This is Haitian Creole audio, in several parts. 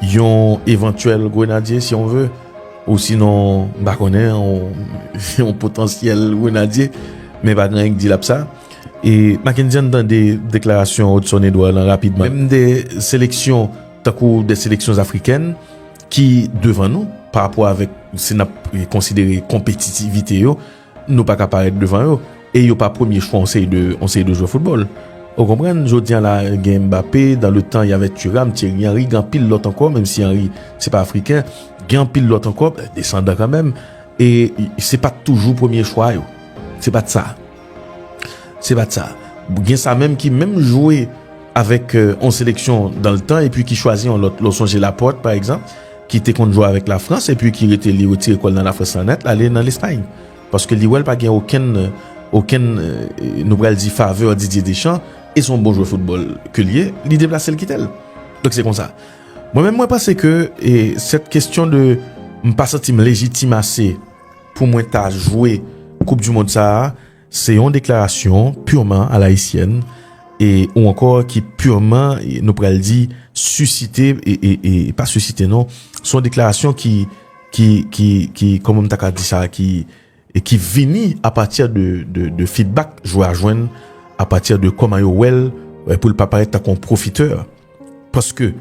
Yon evantyèl grenadye si on ve, ou sinon m pa konnen, yon potansyèl grenadye, men pa gen anyen ki di l ap sa. E Makendy an n tande deklarasyon Odson Edouard lan rapidman. Menm de seleksyon tankou de seleksyon zafrikèn ki devan nou, parapò avèk si n ap konsidere konpetitivite yo, Nou pa ka parèt devan yo. E yo pa premye chwa yon seri de yon seri de jwè foutbòl. Ou konprann? Jodi an la, gen Mbappé, dan le tan y avè Thuram, Thierry Henry, gen anpil lòt ankò, menm si Henry se pa afriken, gen anpil lòt ankò, desandan kanmenm, e se pa t toujou premye chwa yo. Se pa t sa. Se pa t sa. Gen sa menm ki menm jwe avèk yon seleksyon dan le tan epi ki chwazi yon lòt. Lè w sonje Laporte, pa egzanp. ki te konn jwe avèk Lafrans epi ki rete li retire kò l nan Lafrans lan nèt l ale nan Lespay paske li wè l pa gen okenn okenn nou pral di favè Didier Deschamps e s on bon jwè foutbòl ke l ye li deplase l kite l donk se konsa mwen menm mwen panse ke e sèt kestyon de m pa santi m lejitim ase pou mwen ta jwe koup dimond sa a. Se yon deklarasyon purman a l'haïtienne e ou ankò ki purman nou pral di susite e pa susite non, se yon deklarasyon ki ki ki ki kòman m ta ka di sa ki e ki vini a pati de de feedback jwè a jwenn a pati de kòman yo wè l pou l pa parèt tankou yon profiteur paske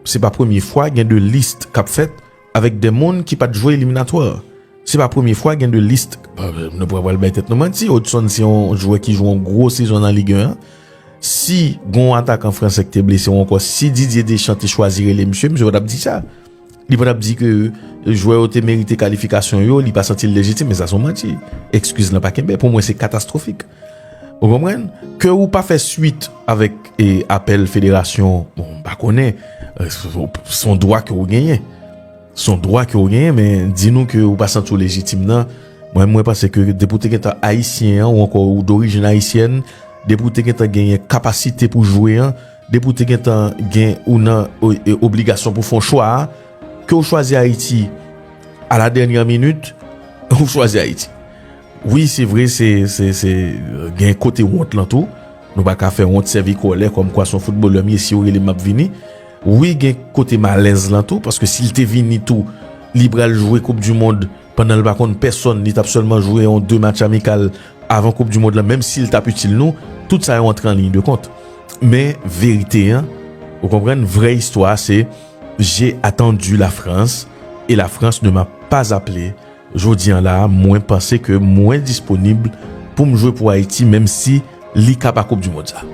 se pa premye fwa gen de list k ap fèt avèk 2 moun ki pat jwe eliminatwa. Se pa premye fwa gen 2 list nou pa pral bay tèt nou manti, Hodgson se yon jwè ki jwe yon gwo sezon nan Ligue 1 an. Si gen yon atakan fransè ki te blese ou ankò si Didier Deschamps te chwazi rele misye, misye pa tap di sa. Li pa tap di ke jwè yo te merite kalifikasyon yo, li pa santi l lejitim, men sa son manti. Ekskiz lan pa kenbe, pou mwen se katastwofik. Ou konprann? Ke ou pa fè swit avèk apèl federasyon, bon, m pa konnen, s on dwa ke ou genyen. S on dwa ke ou genyen, men di nou ke ou pa santi ou lejitim nan, mwen mwen panse ke depi ou te gentan ayisyen an, ou ankò ou dorijin ayisyèn, depi ou te gentan genyen kapasite pou jwe an, depi ou te gentan gen ou nan obligasyon pou fon chwa a, ke ou chwazi Ayiti a la dènyè minit, ou chwazi Ayiti. Wi se vre se gen kote wont lan tou nou pa ka fè wont sèvi kòlè kòm kwa son foutbolè m ye siw rele m map vini wi gen kote malèz lan tou paske sil te vini tou li pral jwe koup du mond pandan l pa konn pèsòn li tap sèlman jwe yon 2 match amikal avan koup du mond lan menm sil tap itil nou tout sa yo antre an liy de kont men verite an ou konprann vrè istwa se j'ai attendu la France et la France ne m'a pas appelé. Jodi an la a, mwen panse ke mwen disponib pou m jwe pou Ayiti menm si li ka pa koup du mond sa.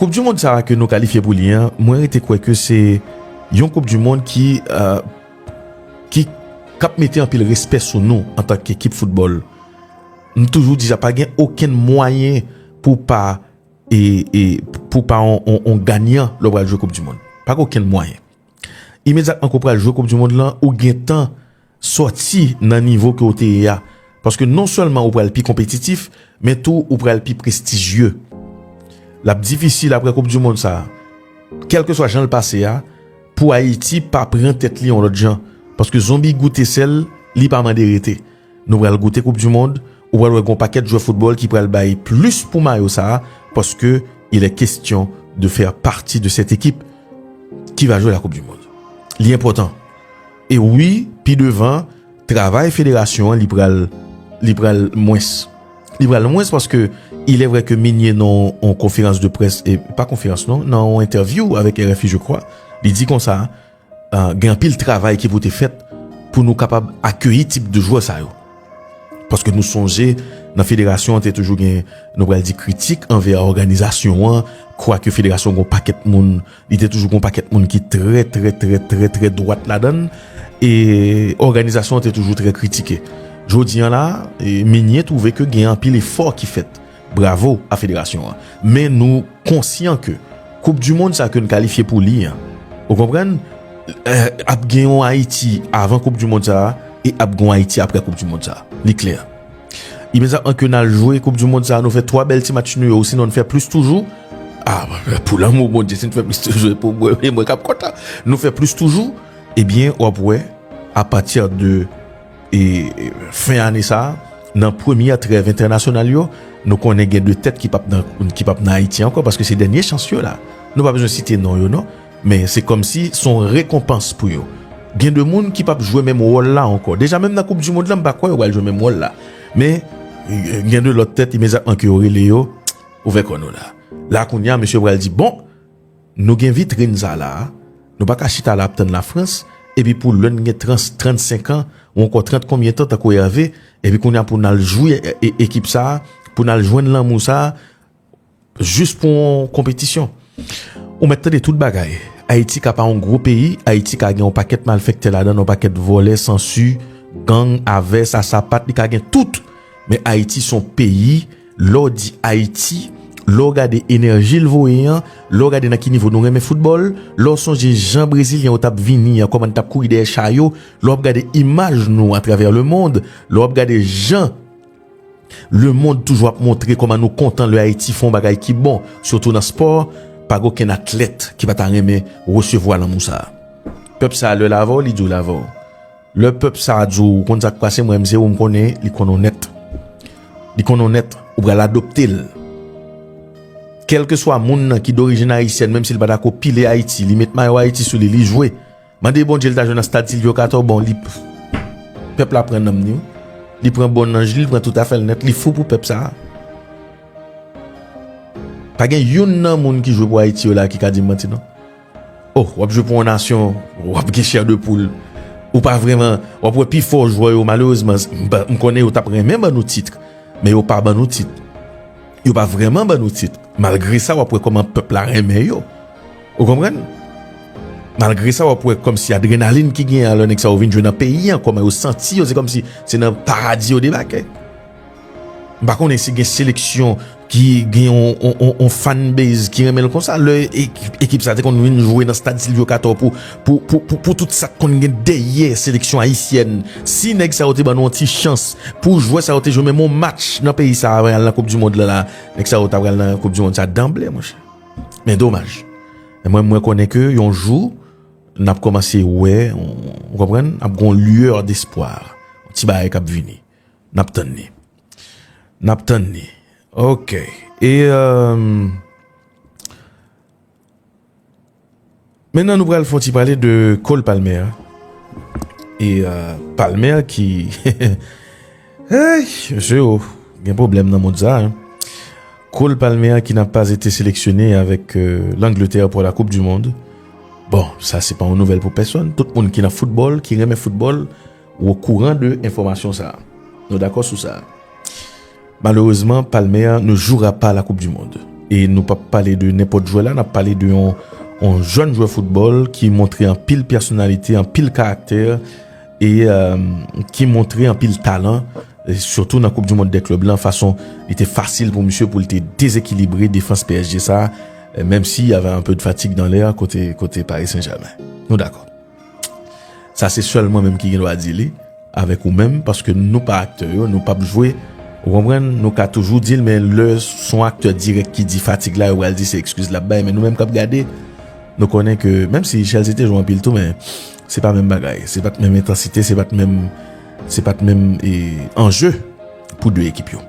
Koup du mond sa a ke nou kalifye pou li an, mwen rete kwè ke se yon koup du mond ki ki kap mete anpil respè sou nou antan ke ekip foutbòl. M toujou di sa, pa gen okenn mwayen pou w pa e e pou w pa yon yon ganyan lè w pral jwe koup du mond. Pa gen okenn mwayen. Imedyatman ke w pral jwe koup du mond lan, ou gentan sòti nan nivo ke w te ye a. Paske non sèlman ou pral pi konpetitif, men tou ou pral pi prestijye. L ap difisil apre koup du mond sa, kèlkeswa jan l pase a, pou Ayiti pa pran tèt li yon lòt jan. Paske zonbi goute sèl, li pa mande rete. Nou pral goute koup du mond, ou pral wè gon pakèt jwè football ki pral bay plus pou mayo sa paske il est question de faire partie de cette équipe ki va jwe la koup du mond. Li enpòtan. E wi pi devan travay federasyon an li pral li pral mwens. Li pral mwens paske il est vrai ke Migné nan yon konferans de près, pa konferans non, nan yon entèvyou avèk RFI je crois, li di konsa, Gen anpil travay ki pou te fèt pou nou kapab akeyi tip de jwè sa yo. Paske nou sonje nan federasyon an te toujou gen nou pral di kritik anvè òganizasyon an, kwake federasyon gon pakèt moun, li te toujou gon pakèt moun ki trè trè trè trè trè dwat ladan l e òganizasyon an te toujou trè kritike. Jodi an la, Migné twouve ke gen anpil efò ki fèt. Bravo a federasyon an. Men nou konsyan ke koup du mond sa ke n kalifye pou li an, ou konprann, ap gen yon Ayiti avan koup du mond sa a e ap gen yon Ayiti aprè koup du mond sa a. Li klè. Imedyatman ke n al jwe koup du mond sa a, nou fè 3 bèl ti match nou yo osinon n fè plis toujou, a, pou lanmou Bondye, si n fè plis toujou e pou mwen, e mwen k ap kontan. Nou fè plis toujou, ebyen w ap wè a pati de E fen ane sa, nan premyè trèv entènasyonal yo, nou konnen gen 2 tèt ki pap nan Ayiti ankò paske se dènye chans yo la. Nou pa bezwen site non yo non, men se kòmsi son rekonpans pou yo. Gen 2 moun ki pap jwe menm wòl la ankò. Deja menm nan koup dimond la m pa kwè yo pral jwe menm wòl la. Men gen 2 lòt tèt imedyatman ke yo rele yo, ouvè kò nou la. La kounya mesye yo pral di bon. Nou gen vitrin sa la a, nou pa ka chita la ap tann Lafrans, epi pou lè n gen trans 35 an, ou ankò 30 konbyen tan tankou Hervé, epi kounye a pou n al jwi ekip sa a, pou n al jwenn lanmou sa a, jis pou yon konpetisyon. Ou mèt tande tout bagay. Ayiti ka pa yon gwo peyi, Ayiti ka gen yon pakèt malfèktè ladan l, yon pakèt vòlè, sansi, gang, avès, asapat, li ka gen tout, men Ayiti s on peyi, Lè w di Ayiti, lè w gade enèji l voye an, lè w gade nan ki nivo nou renmen foutbòl, lè w sonje jan brezilyen yo t ap vini an, kòman n t ap kouri dèyè cha yo, lè w ap gade imaj nou atravè lemond, lè w ap gade jan lemond toujou ap montre kòman nou kontan lè Ayiti fè yon bagay ki bon, sitou nan spò, pa gen okenn atlèt ki pa ta renmen resevwa lanmou sa a. Pèp sa a lè l avè w, li di w l avè w. Lè pèp sa a di w, ou konn sa k pase, mwen menm se ou m konnen, li konn onèt. Li konn onèt, ou pral adopte l. Kèlkeswa moun nan ki dorijin ayisyèn, menm si l pa dako pile Ayiti, li met mayo Ayiti sou li, li jwe. Mande Bondye l ta jwe nan stad Silvyo Katò, bon li Pèp la pran nanm li, li pran bon nanj li, li pran tout afè l nèt, li fou pou pèp sa a. Pa gen youn nan moun ki jwe pou Ayiti yo la a ki ka di m manti non. Oh wap jwe pou yon nasyon wap gen chè de poul ou pa vreman wap wè pi fò jwè yo malerezman m konnen yo tap renmen ban nou titr men yo pa ban nou titr yo pa vreman ban nou titr malgre sa wap wè koman pèp la renmen yo ou konprann malgre sa wap wè komsi adrenalin ki gen a lè nèg sa yo vin jwe nan peyi an koman yo santi yo se komsi se nan paradi yo debake. M pa konnen si gen seleksyon ki gen yon fanbase ki renmen l konsa. Lè ekip sa te konn vin jwe nan stad Silvyo Katò pou tout sa k konn gen dèyè seleksyon ayisyèn. Si nèg sa yo te ban nou yon ti chans pou jwè sa yo te jwe menm yon match nan peyi sa avan y al nan koup di mond la la, nèg sa yo ta pral nan koup di mond sa danble monchè. Men domaj. Men mwen mwen konnen ke yon jou n ap kòmanse wè, ou konprann, ap gon lueur d'espoir. Yon ti bagay k ap vini. Nap tann li. Nap tann li. Ok. E emm. Mennen nou pral fon ti pale de Cole Palmer. E emm. Palmer ki. Eyy. Mesye yo. Gen problem nan moun sa. Cole Palmer ki nan pas ete seleksyone avèk l'Angleterre pou la koup du monde. Bon. Sa se pa yon nouvel pou peson. Tout moun ki nan football. Ki renmen football. Ou okouran de enfòmasyon sa? Nou dakò sou sa? Malerezman palmè a nou joura pa la koup di mond. E nou pap pale de nenpòt jwè la nap pale de yon yon jèn jwè foutbòl ki montre anpil pèsonalite anpil karaktè e ki montre anpil talan sitou nan koup di mond de klèb lan fason li te fasil pou misye pou li te dezekilibre defans psg sa menm si y avè anpe de fatig dan lè kote kote pari senjèmen nou dakò. Sa se sèl mwen menm ki gen dwa di li avèk ou menm paske nou pa aktè yo, nou pap jwe ou konprann, nou ka toujou di l men lè son aktè dirèk ki di fatig la yo pral di se ekskiz lap bay men nou menm kap gade nou konnen ke menm si Chelsea te jwe anpil tou men se pa menm bagay, se pat menm entansite, se pat menm se pat menm anje pou 2 ekip yo.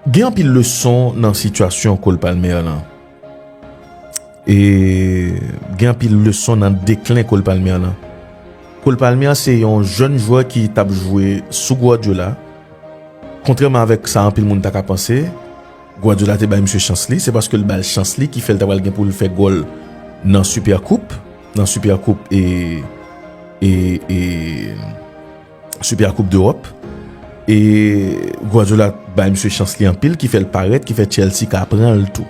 Gen anpil leson nan sitiyasyon Cole Palmer lan. E gen anpil leson nan deklen Cole Palmer lan. Cole Palmer se yon jèn jwè ki t ap jwe sou Guardiola. Kontrèman avèk sa anpil moun ta ka panse, Guardiola te bay misye chans li. Se paske l ba l chans li ki fè l ta pral gen pou l fè gòl nan Supercoupe, nan Supercoupe e. Super Coupe d'Europe e Guardiola bay misye chans li anpil ki fèl parèt ki fè Chelsea ka pranl tou.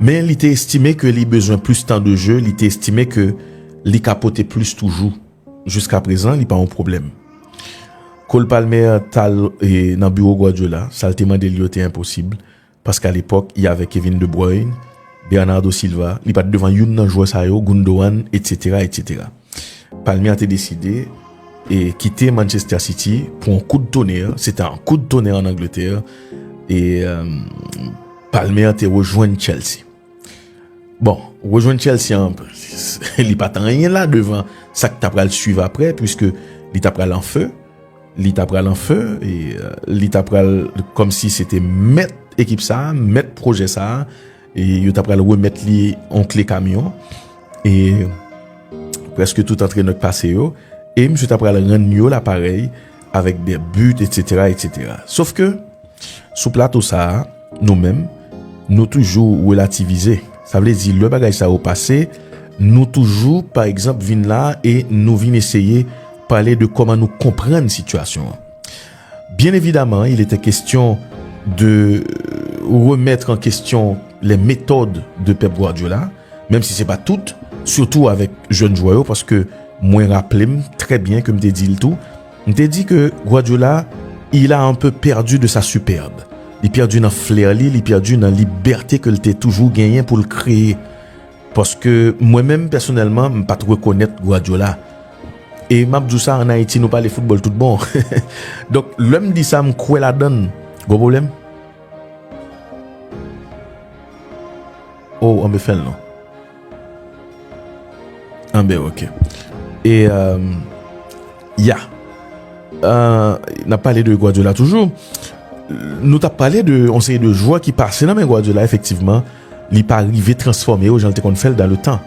Men li te estime ke li bezwen plis tan de jeu, li te estime ke li ka pote plis toujou. Jiska prezan li pa yon pwoblèm. Cole Palmer tal nan biwo Guardiola, sal te mandel yo te enposib. Paske alepòk, y avè Kevin De Bruyne, Bernardo Silva, li pa t devan youn nan jwè sa yo, Gundogan, etsetera, etsetera. Palmier te deside kite Manchester City pou yon kout tonè, se ta yon kout tonè an Angletè, e Palmier te rejwenn Chelsea. Bon, rejwenn Chelsea an, li pa t anyen la devan sa k ta pral suiv apre, puiske li ta pral an fe, li ta pral an fe, li ta pral kom si se te mèt ekip sa, mèt pwojè sa, e yo ta pral remèt li an kle kamyon, e preske tout antrenè k pase yo, e misye ta pral rann yo laparèy, avèk dè but etc etc sof ke sou plato sa a nou menm nou toujou relativize sa vle di lè bagay sa yo pase nou toujou pa egzanp vin la e nou vin eseye pale de kòman nou konprann sitiyasyon an byen evidaman il etè kestyon de remèt an kestyon lè metòd de pèp gwadyola Menm si se pa tout, sitou avèk jèn jwè yo paske mwen raple m trè byen ke m te di l tou, m te di ke Guardiola il a un peu perdu de sa superbe. Li pèdi nan flair li, li pèdi nan libète ke l te toujou genyen pou l kreye. Paske mwen menm pèsonèlman m pa t rekonèt Guardiola. E m ap di w sa an Ayiti nou pale foutbòl tout bon. Donk lè m di sa m kwè ladan l. Gwo pwoblèm? Oh anbe fèl non. Anbe ok. E ya. Nap pale de Guardiola toujou. Nou tap pale de on seri de jwa ki pase nan men Guardiola efektivman. Li pa rive transforme yo jan l te konn fèl dan le tan.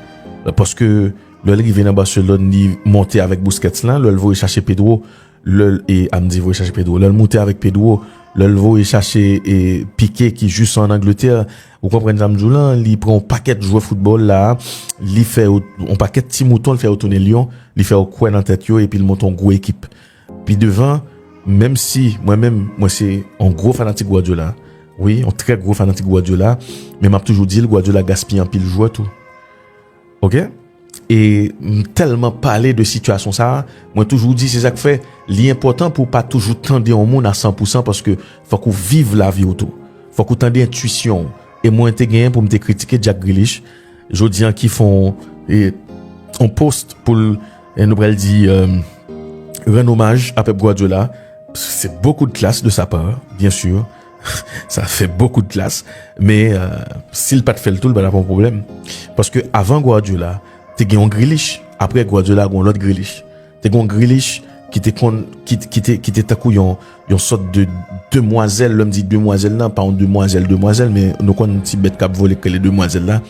Paske lè l rive nan Barcelone li monte avèk Busquets lan. Lè l voye chache Pedro. Lè l e am di voye chache Pedro, lè l moute avèk Pedro, lè l voye chache e Piqué ki jis an Angletè, ou konprann sa m di w lan, li pran yon pakèt jwè foutbòl la a, li fè yo, yon pakèt ti mouton li fè yo tounen lyon, li fè yo kwè nan tèt yo epi l monte yon gwo ekip. Pi devan, menm si mwen menm mwen se yon gwo fanatik Guardiola, wi, yon trè gwo fanatik Guardiola, men m ap toujou di l Guardiola gaspiye anpil jwè tou. Ok e m telman pale de sitiyasyon sa mwen toujou di se sak fè li enpotan pou pa toujou tande yon moun a san pou san paske fok ou viv lavi ou tou fok ou tande entuisyon ou e mwen te genyen pou m te kritike Jack Grealish jodi an ki fon yon post pou l nou pral di rann omaj a Pep Guardiola se bokou de klas de sa pa bien sur Sa fè bokou d'klass, men si l pat fè l tou l pa tap yon pwoblèm. Paske avan Guardiola, te gen yon Grealish, aprè Guardiola gen yon lòt Grealish. Te gen yon Grealish ki te konn, ki te tankou yon sòt de demwazèl, lè m di demwazèl nan, pa yon demwazèl demwazèl, men nou konn ti bèt kap vole k rele demwazèl la.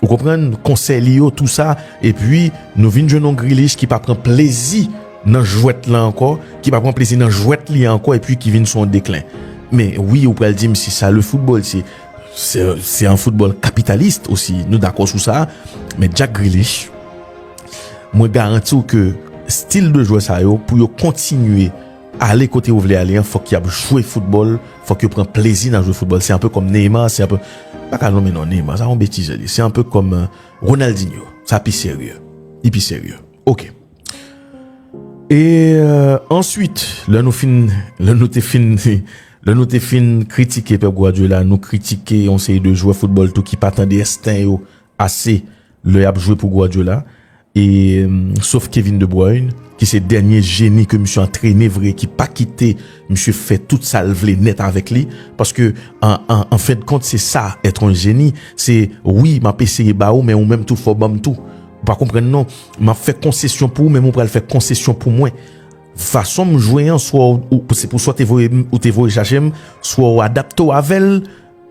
Ou konprann konsèy li yo tou sa epi nou vin jwenn yon Grealish ki pa pran plezi nan jwèt lan ankò, ki pa pran plezi nan jwèt li a ankò epi ki vin sou yon deklen. Men wi ou pral dim se sa le football se se yon football kapitalist osi nou dakò sou sa men Jack Grealish mwen garanti ou ke stil de jwè sa yo pou yo kontinye Ale kote yo vle ale an fòk yap jwe foutbòl, fòk yo pran plezi nan jwe foutbòl, se anpe kòm Neymar, se anpe, m pa ka nonmen non Neymar, sa yon betiz yo di, se anpe kòm Ronaldinho, sa pi serye, li pi serye, ok. E answit, lè nou fin, lè nou te fin, lè nou te fin kritike Pep Guardiola, nou kritike yon seri de jwè foutbòl tou ki pa tande ensten yo ase Lè yap jwe pou Guardiola e sof Kevin de Bruyne ki se dènye jeni ke misye antrene vre ki pa kite misye fè tout sa l vle nèt avèk li paske an fen de kont se sa èt on jeni se wi map eseye ba ou men ou menm tou fò banm tou ou pa konprann non map fè konsesyon pou ou men ou pral fè konsesyon pou mwen fason m jwe an swa ou se pou swa ou te voye chache m swa ou adapte w avè l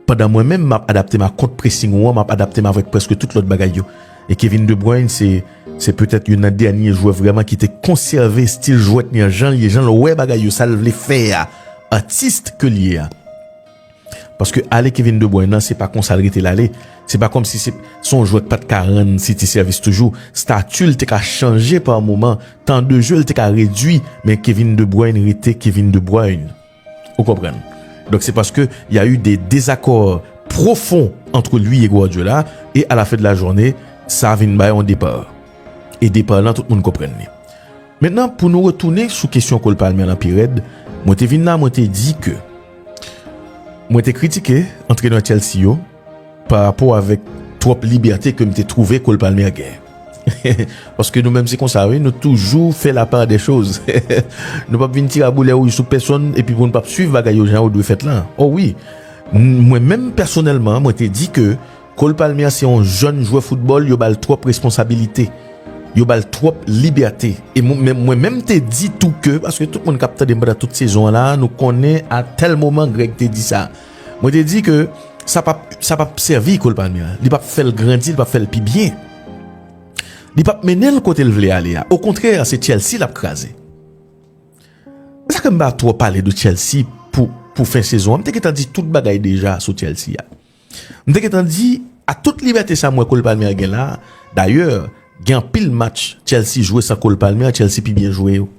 Pandan mwen menm map adapte m a kont pressing ou an, map adapte m avèk prèske tout lòt bagay yo. E Kevin De Bruyne se se petèt youn nan dènye jwè vrèman ki te konsève stil jwèt li an jan l ye, jan l wè bagay yo, sa l vle fè a, artiste ke l ye a. Paske ale Kevin De Bruyne lan se pa konsa l rete l ale, se pa kòmsi se se yon jwè k pat ka rann City sèvis toujou, stati l te ka chanje pa moman, tan de je l te ka redui, men Kevin De Bruyne rete Kevin De Bruyne. Ou konprann. Donk se paske y a eu de dezakò pwofon antre lui e Guardiola e a la fen de la journe sa vin bay yon depa. E depa lan tout moun konprann li. Mentnan pou nou retounen sou kesyon Cole Palmer lan pi rèd, mwen te vin la mwen te di ke mwen te kritike antrenè Chelsea yo, Pa rapò avèk twòp libète ke m te twouve Cole Palmer gen. Paske nou menm se konsa wi, nou toujou fè la part des choses. Nou pap vin tiraboulè wouj sou pèsonn epi pou nou pap swiv bagay yo jan yo dwe fèt lan. O wi! Mwen menm pèsonèlman, mwen te di ke Cole Palmer se yon jèn jwè foutbòl yo ba l twòp responsabilite. Yo ba l twòp libète. E mwen menm te di tou ke, paske tout moun k ap tande m pandan tout sezon an la a, nou konnen a tèl moman Greg te di sa. Mwen te di ke sa pap sa pap sèvi Cole Palmer, li pap fè l grandi, li pap fè l pi byen. Li pap mennen l kote l vle ale a. Okontrè, se Chelsea l ap kraze. Se sa ke m pa twò pale de Chelsea pou pou fen sezon an. M te gentan di tout bagay deja sou Chelsea a. M te gentan di, ak tout libète sa m wè Cole Palmer gen la, dayè, gen anpil match Chelsea jwe san Cole Palmer, Chelsea pi byen jwe yo.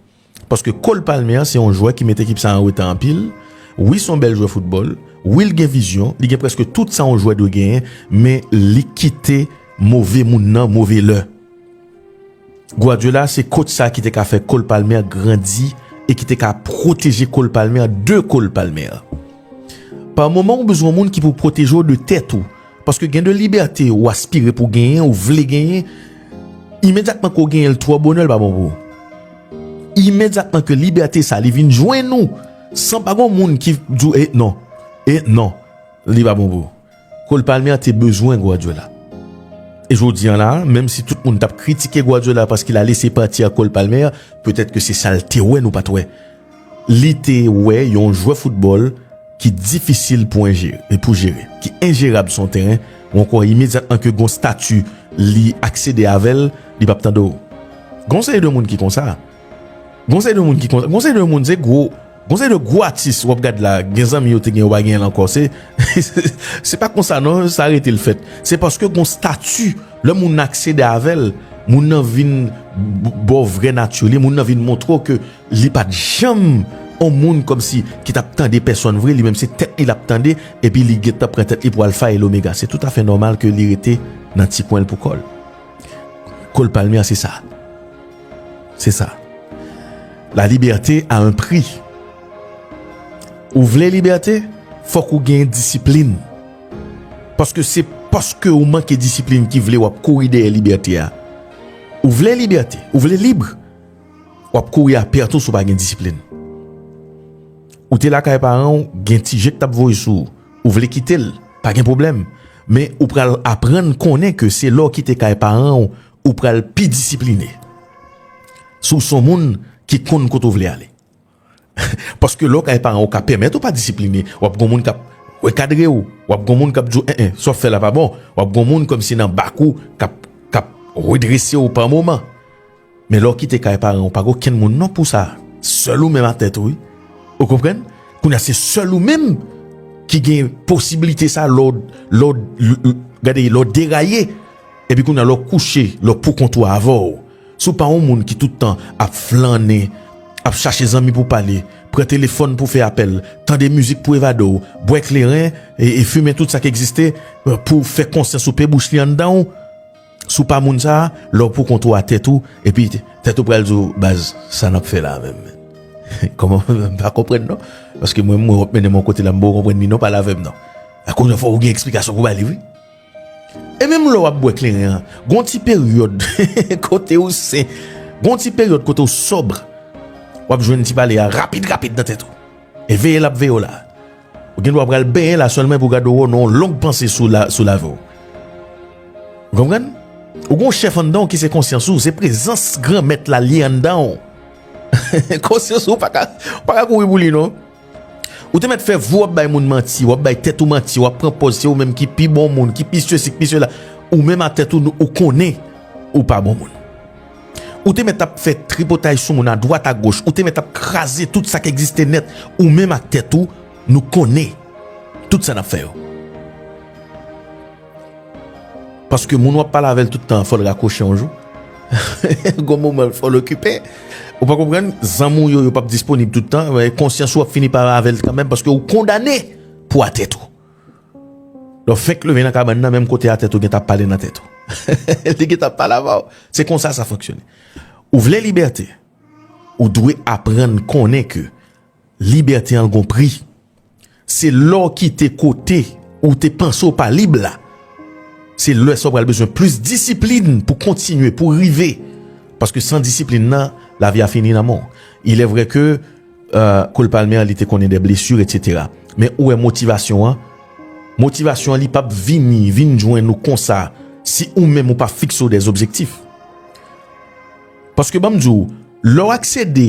Paske Cole Palmer se yon jwè ki met ekip sa an reta anpil. Wi son bèl jwè foutbòl, wi l gen vizyon, li gen prèske tout sa yon jwè dwe genyen, men li kite move moun nan move lè. Guardiola se coach sa ki te ka fè Cole Palmer grandi e ki te ka pwoteje Cole Palmer de Cole Palmer. Par moman ou bezwen yon moun ki pou pwoteje w de tèt ou, Paske gen de libète ou aspire pou genyen, ou vle genyen, imedyatman ke w genyen l twò bonè l pa bon pou ou. Imedyatman ke libète sa li vin jwenn ou, san pa gon moun ki di w e non, e non, li pa bon pou ou. Cole Palmer te bezwen Guardiola. E jodi an la, menm si tout moun t ap kritike Guardiola paske l a lese pati ak Cole Palmer, petèt ke se sa l te wè nou pa t wè. li te wè yon jwè foutbòl ki difisil pou enjere, pou jere, ki enjerab sou yon teren, ou ankò imedyatman ke gon stati li aksede avèl, li pap tande w. Gon seri de moun ki konsa. Gon seri de moun ki konsa. Gon seri de moun se gwo, gon seri de gwo atis wap gad la, gen zanmi yo te gen yo pa genyen l ankò. Se, se pa konsa non, sa rete l fèt. Se paske gon stati, lè moun nan aksede avèl, moun nan vin ba w vrè nati li, moun nan vin montre w ke Li pat janm on moun kòmsi ki tap tande pèsòn vre, li menm se tèt li lap tande epi li gentan pran tèt li pou alfa e lomega. Se toutafè nòmal ke li rete nan ti kwen l pou kò l. Cole Palmer se sa. Se sa. La libète a un pri. Ou vle libète, fòk ou gen disiplin. Paske se paske ou manke disiplin ki vle wap kouri dèyè libète a. Ou vle libète, ou vle libre, Wap kouri a pè tou si w pa gen disiplin. Ou te lakay paran w, gen ti je k tap voye sou ou. Ou vle kite l, pa gen pwoblèm. Men ou pral aprann konnen ke se lè w kite kay paran w, ou pral pi disipline. Si w son moun ki konn kote w vle ale. Paske lè w kay paran w ka pèmèt ou pa disipline, w ap gen yon moun k ap rekadre w, w ap gen yon moun k ap di w en en, sa w fè la pa bon, w ap gen yon moun kòmsi nan bak ou k ap k ap redrese w pa moman. Men lè w kite kay paran w, ou pa gen okenn moun non pou sa, sèl ou menm a tèt ou wi. Ou konprann? Kounye a se sèl ou menm ki gen posibilite sa lè w lè w gade lè w deraye epi kounye a lè w kouche lè w poukont ou avè w. Si w pa yon moun ki tout tan ap flannen, ap chache zanmi pou w pale, pran telefòn pou w fè apèl, tande mizik pou w evade w, bwè kleren e fimen tout sa k egziste pou w fè konsyans ou pe bouch li anndan w, si w pa moun sa a, lè w poukont ou a tèt ou, epi tèt ou pral di w, baz, sa n ap fè la a menm? Kòman m pa konprann non, paske mwen menm mwen wap mennen m yon kote la m poko konprann li non, pale avè m non. Kounye a fò ou gen eksplikasyon pou w ba li wi. E menm lè w ap bwè kleren an, gen yon ti peryòd kote ou sen. Gen yon ti peryòd kote ou sòbr. W ap jwenn ti pale a rapid rapid nan tèt ou. E veye l ap veye w la. Ou gen dwa pral benyen la sèlman epi w gade w wè w nan yon long panse sou lavi w. Ou konprann? Ou gen yon chèf anndan w ki se konsyans ou. Se prezans Granmèt la li anndan w. Konsyans ou pa ka kouri pou li non. Ou te mèt fè vou wap bay moun manti, wap bay tèt ou manti, wap pran pòz se ou menm ki pi bon moun, ki pi sesi, ki pi sela. Ou menm a tèt ou, ou konnen ou pa bon moun. Ou te mèt ap fè tripotay sou moun a dwat a goch, ou te mèt ap kraze tout sa ki egziste nèt, ou menm ak tèt ou, nou konnen tout sa nap fè yo. Paske moun wap pale avèl tout tan fòl rakwoche yon jou Gon moman fòl okipe Ou pa konprann zanmi w yo yo pap disponib tout tan Konsyans ou ap fini pa avèl kanmenm paske ou kondane pou a tèt ou Lò fenk leve nan kabann nan menm kote a tèt ou gen ta pale nan tèt ou Li gen ta pale avèw Se konsa sa fonksyone Ou vle libète Ou dwe aprann konnen ke libète an gon pri. Se lè w kite kote ou te panse ou pa lib la, se lè sa ou pral bezwen plis disiplin pou w kontinye, pou w rive. Paske san disiplin nan, lavi a fini nan men w. Ilèvre ke Cole Palmer li te konnen de blesur etc. Men ou wè motivasyon an, motivasyon an li pap vini, vin jwenn ou konsa si ou menm ou pa fikse w de zobjektif. Paske banm di w, lè w aksede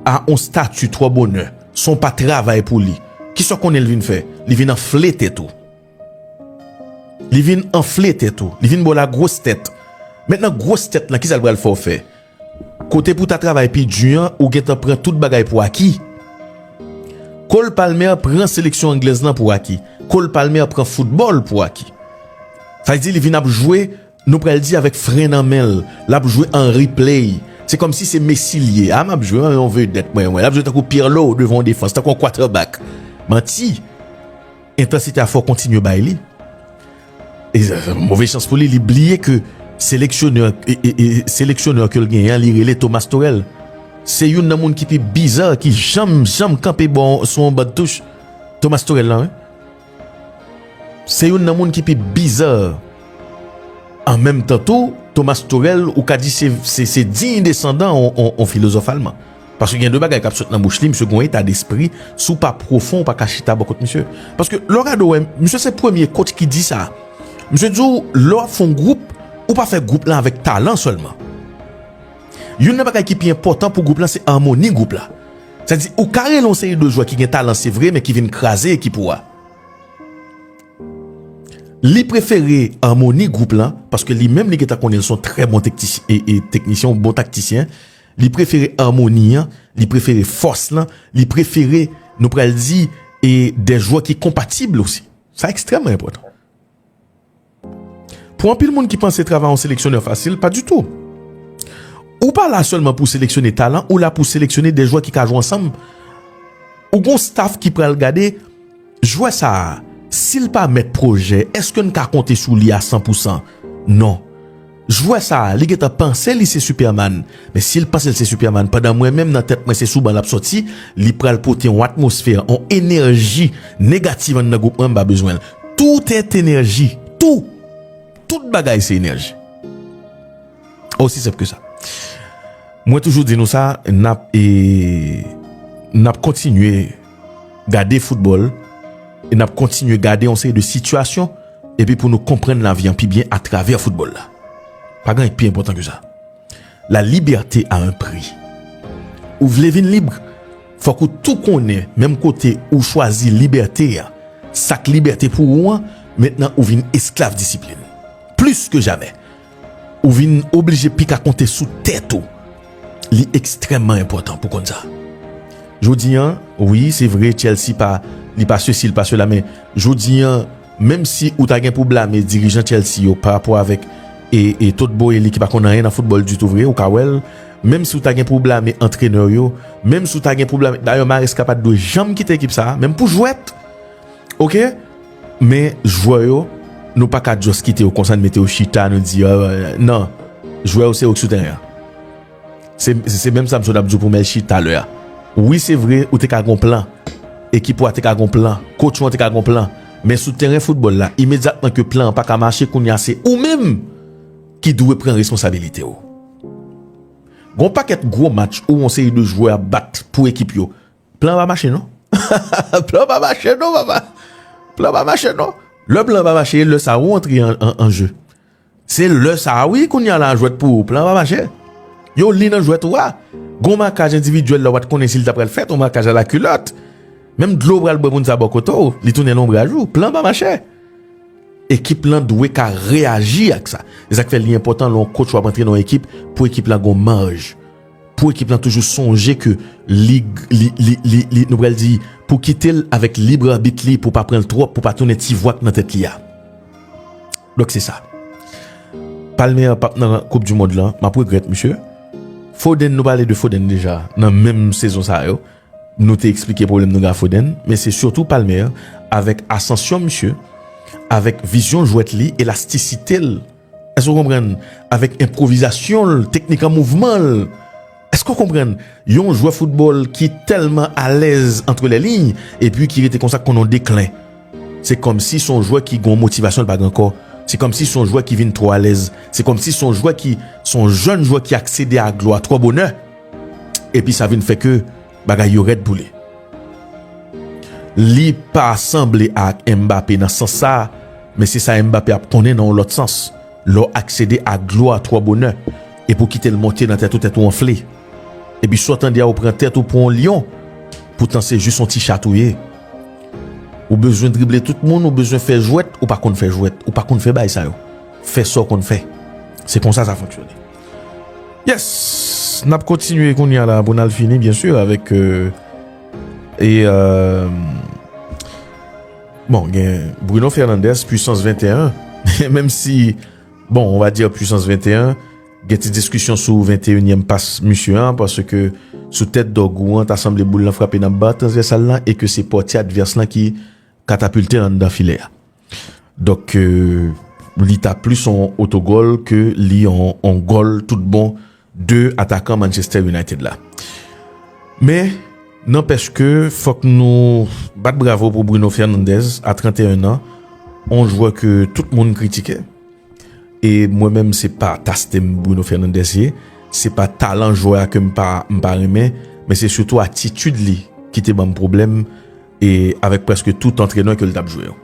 a on stati twò bonè, san w pa travay pou li, ki sa w konnen li vin fè? Li vin anfle tèt ou. Li vin anfle tèt ou. Li vin ba w lagwòs tèt. Mentnan gwòs tèt lan, ki sa l pral fè w fè? Kote pou w ta travay pi di an, ou gentan pran tout bagay pou aki. Cole Palmer pran seleksyon anglèz lan pou aki. Cole Palmer pran foutbòl pou aki. Sa vle di li vin ap jwe. Nou pral di avèk fren nan menl lap jwe Henri play se kòmsi se Messi l ye a map jwe an yon vedèt mwen wè lap jwe tankou Pirlo devan yon defans tankou yon quatrebak manti entansite a fò kontinye bay li move chans pou li li bliye ke seleksyonè seleksyonè kel genyen an li rele Thomas Torel se youn nan moun ki pi bizar ki janm janm kanpe bon sou yon ban touch Thomas Torel lan wi. Se youn nan moun ki pi bizarre. An menm tan tou, Thomas Turel ou ka di se diy desandan on filozòf alman. Paske gen de bagay k ap sot nan bouch li, misye gen on eta despri, si w pa pwofon ou pa ka chita bò kot misye. Paske lè w gade w wè, misye se premye coach ki di sa. Misye di w lè w ap fè on gwoup, ou pa fè gwoup lan avèk talan sèlman. Youn nan bagay ki pi enpòtan pou gwoup lan se amoni gwoup la. Sa vle di ou ka rele yon seri de jwè ki gen talan se vre men ki vin kraze ekip ou a. Li prefere amoni gwoup lan paske li menm li gentan konnen li se yon trè bon teknisyen, yon bon taktisyen. Li prefere amoni an, li prefere fòs lan, li prefere nou pral di e de jwè ki konpatib osi. Sa ekstrèmman enpòtan. Pou anpil moun ki panse travay yon seleksyonè fasil, pa ditou. Ou pa la sèlman pou seleksyone talan, ou la pou seleksyone 2 jwè ki ka jwe ansanm. Ou gon staf ki pral gade, jwè sa a, si l pa mèt pwojè, èske n ka konte sou li a 100 pou 100? Non. Jwè sa li gentan panse li se superman men sil pansel se superman pandan mwen menm nan tèt mwen se sou ban lap sòti li pral pote on atmosfè on enèji negativ anndan gwoup mwen mpa bezwenl tout est energie tou tout bagay se enèji osi senp ke sa mwen toujou di nou sa nap e nap kontinye. gade foutbòl, e n ap kontinye gade yon seri de sitiyasyon, epi pou nou konprann lavi an pi byen atravè foutbòl la. Pa gen anyen ki pi enpòtan ke sa. La libète a un pri. Ou vle vin lib, fòk ou tou konnen menm kote ou chwazi libète a, sa k libète pou ou an, mentnan ou vin esklav disiplin. Plis ke jamè, Ou vin oblije pi ka konte sou tèt ou. Li ekstrèmman enpòtan pou konn sa. Jodi an, wi, se vre Chelsea pa, li pa sesi, li pa sela men jodi an, menm si ou ta gen pou blame dirijan Chelsea yo pa rapò avèk e e Todd Boehly ki pa konn anyen nan foutbòl ditou vre, ou ka wè l, menm si ou ta gen pou blame antrenè yo, menm si ou ta gen pou blame, dayè Maresca pa t dwe janm kite ekip sa a, menm pou jwèt! Oke? Men jwè yo, nou pa ka just kite yo konsa, nou mete yo chita, nou di, nan, jwè yo se yo ki sou tèren an. Se menm sa m sot ap di w pou Melchie talè a. Wi se vre, ou te ka gen yon plan, ekip ou a te ka gen yon plan, coach ou an te ka gen yon plan, men sou tèren foutbòl la, imedyatman ke plan an pa ka mache, kounye a se ou menm ki dwe pran responsabilite w. Gen yon pakèt gwo match ou yon seri de jwè ap bat pou ekip yo, Plan pa mache non. Plan pa mache non papa. Plan pa mache non. Le plan pa mache le sa ou antre an je. Se le sa wi kounye a la jwet pou ou. Plan pa mache. Yo li nan jwet ou a. Gon makaj individuel la ou pat konnen si li ta pral fet. Ou makaj a la kulot. Menm dlo ou pral bwe moun sa bo kote ou. Li tounen lonbraj ou. Plan pa mache. Ekip lan dwe ka reaji ak sa. Esak fe li enpotan lon coach wap antre nan ekip pou ekip la gon manj. Pou ekip lan toujou sonje ke li, li, li, li, li, nou pral di, pou kite l avèk lib arbit li pou pa pran l twòp, pou pa tounen ti vwa k nan tèt li a. Donk se sa. Palmer an pap nan koup di mond lan, map regrèt misye. Foden, nou pale de Foden deja nan menm sezon sa yo. Nou te eksplike pwoblèm nou gen ak Foden, men se sitou Palmer avèk asansyon misye, avèk vizyon jwèt li, elastisite l. Èske ou konprann? Avèk enpwovizasyon l, teknik an mouvman l. Èske ou konprann? Yon jwè foutbòl ki tèlman alèz antre lè liy epi ki rete konsa konn yon deklen. Se kòmsi se yon jwè ki gen yon motivasyon l pa gen ankò. Se kòmsi se yon jwè ki vin twò alèz. Se kòmsi se yon jwè ki, se yon jèn jwè ki aksede a glwa twò bonè. Epi sa vin fè ke. Bagay yo rèd pou li. Li pa sanble ak Mbappé nan sans sa, men se sa Mbappé ap konnen nan yon lòt sans. Lè w aksede a glwa twò bonè, epi w kite l monte nan tèt ou, tèt ou anfle. Epi sa w tande a ou pran tèt ou pou yon lyon, poutan se jis yon ti chat ou ye. Ou bezwen drible tout moun, ou bezwen fè jwèt, ou pa konn fè jwèt, ou pa konn fè bagay sa yo. Fè sa w konn fè. Se konsa sa fonksyone. Yes, nap kontinye kounye a la pou nal fini byen sur avèk e bon gen Bruno Fernandez puissance 21 menm si bon on va dire puissance 21 gen ti diskisyon sou 21 nyèm pas misye an paske sou tèt Dorgou an ta sanble boul lan frape nan ba transvèsal lan e ke se pòti advès lan ki katapilte anndan filè a. Donk li ta plis yon otogòl ke li yon gòl tout bon de atakan Manchester United la. Men, nanpèch ke fòk nou bat bravo pou Bruno Fernandez a 31 nan, yon jwè ke tout moun kritike. E mwen menm se pa taste m Bruno Fernandez ye, se pa talan jwè a ke m pa renmen, men se sitou atitid li ki te banm pwoblèm. e avèk prèske tout antrenè ke li tap jwe yo.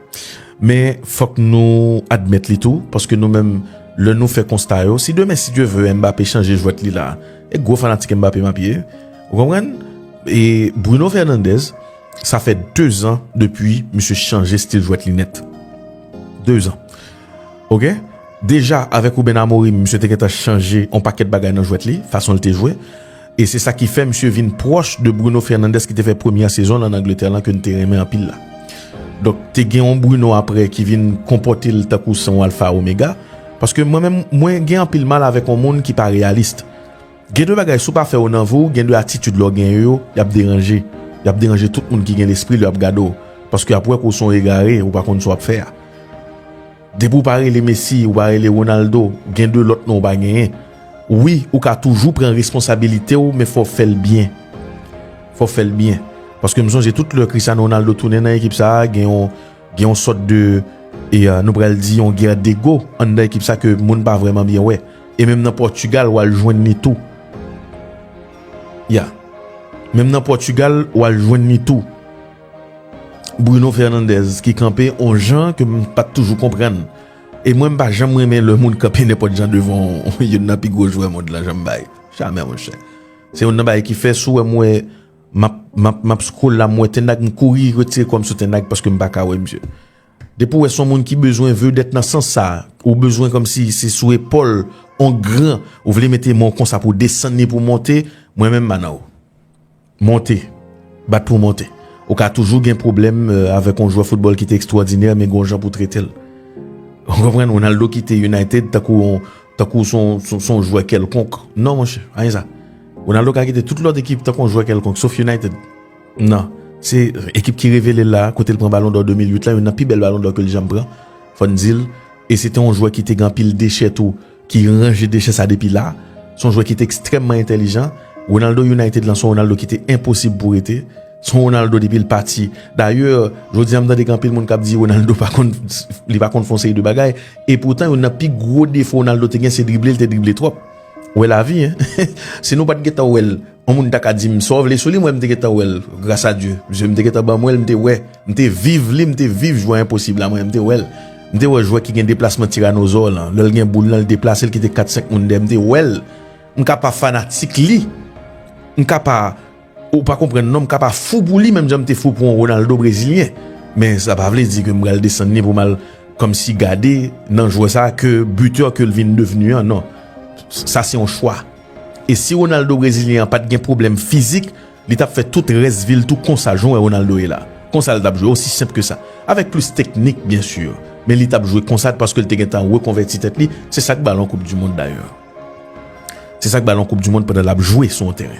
Men fòk nou admèt li tou, paske nou menm lè nou fè konsta yo, si demen si Dye ve Mbappé chanje jwèt li la, e gwo fanatik Mbappé map ye, ou konprann? E Bruno Fernandez, sa fè 2 zan depi misye chanje stil jwèt li nèt. 2 zan. Ok? Deja avèk Ruben Amorim, misye te gentan chanje yon pakèt bagay nan jwèt li, fason li te jwe. E se sa ki fè misye vin pwòch de Bruno Fernandes ki te fè premyè sezon l an Angletè lan ke n te renmen anpil la. Donk, te gen yon Bruno aprè ki vin konpòte l tankou se yon alfa omega. Paske mwen menm, mwen gen anpil mal avèk yon moun ki pa reyalist. Gen de bagay si w pa fè yo nan vi w, gen de atitid lè w genyen yo, y ap deranje. Y ap deranje tout moun ki gen lespri lè y ap gade w. Paske y ap wè ke w se yon egare, ou pa konn sa w ap fè a. Depi ou pa rele Messi, ou pa rele Ronaldo, gen de lòt non ou pa genyen. Wi, ou ka toujou pran responsabilite w men fò w fè l byen. Fò w fè l byen. Paske m sonje tout lè Cristiano Ronaldo tounen nan ekip sa a, gen yon gen yon sòt de e nou pral di yon gè dego anndan ekip sa ke moun pa vrèman byen wè. E menm nan Portugal w al jwenn li tou. Ya. Menm nan Portugal w al jwenn li tou. Bruno Fernandez ki kanpe on jan ke m pa t toujou konprann. E mwen m pa janm renmen lè moun kanpe nenpòt jan devan youn nan pi gwo jwè mond lan jan m bay. Jamè monchè. Se youn nan bagay ki fè si w wè m wè m ap m ap m ap scroll la m wè Ten Hag m kouri retire kò m sou Ten Hag paske m pa ka wè msye. Depi w wè se yon moun ki bezwen vedèt nan sans sa, ou bezwen kòmsi se sou epòl on gran ou vle mete men w konsa pou w desann li pou w monte, mwen menm m pa nan ou. Monte. Bat pou w monte. Ou ka toujou gen pwoblèm avèk yon jwè foutbòl ki te ekstwòdinè men gen yon jan pou w trete l. Ou konprann? Ronaldo kite United tankou yon, tankou se yon, se yon jwè kèlkonk. Non monchè, pa gen sa. Ronaldo ka kite tout lòt ekip tankou yon jwè kèlkonk, sof United. Non. Se ekip ki revele l la a, kote l pran balon dò 2008 la, youn nan pi bèl balon dò ke l janm pran, fò n di l. E se te yon jwè ki te gen anpil dechè tou. ki ranje dechè sa depi la, se yon jwè ki te ekstrèmman entèlijan, Ronaldo United lan se yon Ronaldo ki te enposib pou rete, se yon Ronaldo depi l pati, dayè jodi an m tande gen anpil moun k ap di Ronaldo pa konn, li pa konn fè yon seri de bagay, e poutan youn nan pi gwo defo Ronaldo te gen se drible, li te drible twòp, wè lavi hein, si nou pa t gen tan wè l Yon moun ta ka dim saw vle sou li mwen m te gentan wèl gras a Dye zye m te gentan ban mwenl m te wè m te viv li m te viv jwè enposib la mwen m te wèl m te wè jwè ki gen deplasman tiranozò lan lèl gen boul lan li deplasel kite 4 5 moun dèyè m te wèl m ka pa fanatik li m ka pa ou pa konprann non m ka pa fou pou li menm jan m te fou pou yon Ronaldo brezilyen men sa pa vle di ke m pral desann li pou mal kòmsi gade nan jwè sa ke bitè kel vin devni an non sa se yon chwa. E si Ronaldo brezilyen an pat gen pwoblèm fizik li tap fè tout rès vil tou konsa jan w wè Ronaldo ye la konsa l tap jwe osi senp ke sa avèk plis teknik byen sur men li tap jwe konsa paske l te gentan rekonvèti tèt li se sak balon koup du mond dayè se sak balon koup du mond pandan lap jwe sou yon teren.